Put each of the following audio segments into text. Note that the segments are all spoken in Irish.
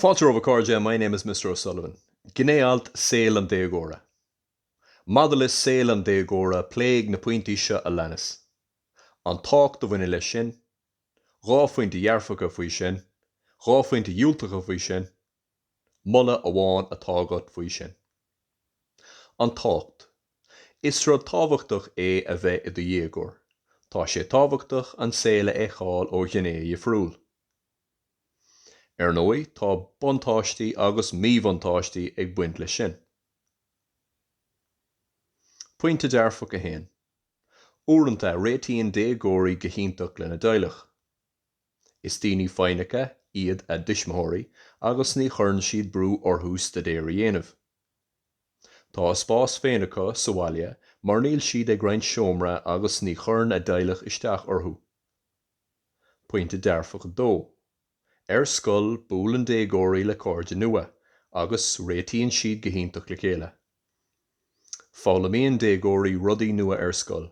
Fáilte romhaibh a chairde, my name is Mister O'Sullivan. Gné-alt, Saol an déagóra. Maidir le saol an déagóra pléigh na pointí seo a leanas, an tábhacht a bhaineann leis sin, dhá phointe dhearfacha faoi sin, dhá phointe dhiúltacha faoi sin, Moladh amháin atá agat faoi sin. An tábhacht. Is rud tábhachtach é a bheith i do dhéagóir. Tá sé tábhachtach an saol a fheiceáil ó ghné dhifriúil. Ar ndóigh tá buntáistí agus míbhuntáistí ag baint leis sin. Pointe dearfach a haon. Uaireanta réitíonn déagóirí go hiontach lena dteaghlach. Is daoine foighneacha iad a dtuismitheoirí agus ní chuireann siad brú orthu staidéar a dhéanamh. Tá a spás féin acu sa bhaile mar níl siad ag roinnt seomra agus ní chuireann a dteaghlach isteach orthu. Pointe dearfach a dó, Ar scoil buaileann déagóirí le cairde nua agus réitíonn siad go hiontach le chéile. Foghlaimíonn déagóirí rudaí nua ar scoil.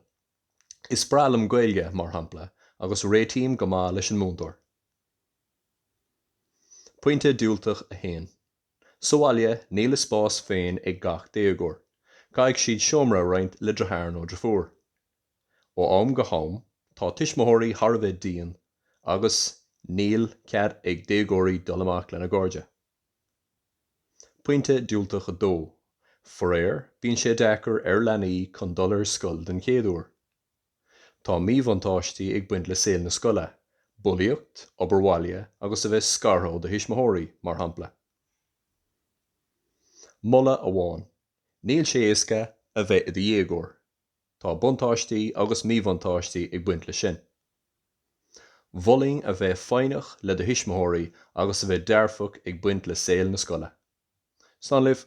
Is breá liom Gaeilge, mar shampla, agus réitím go maith leis an múinteoir. Pointe diúltach a haon. Sa bhaile, níl a spás féin ag gach déagóir, caithfidh siad seomra a roinnt le deartháir nó deirfiúr. Ó am go ham, tá tuismitheoirí thar a bheith dian agus níl cead ag déagóirí dul amach lena gcairde. Pointe diúltach a dó, faraor, bíonn sé deacair ar leanaí chun dul ar scoil den chéad uair. Tá míbhuntáistí ag baint le saol na scoile, bulaíocht, obair bhaile agus a bheith scartha ó do thuismitheoirí, mar shampla. Moladh amháin, níl sé éasca a bheith i do dhéagóir. Tá buntáistí agus míbhuntáistí ag baint leis sin. Mholfainn a bheith foighneach le do thuismitheoirí agus a bheith dearfach ag baint le saol na scoile. Slán libh!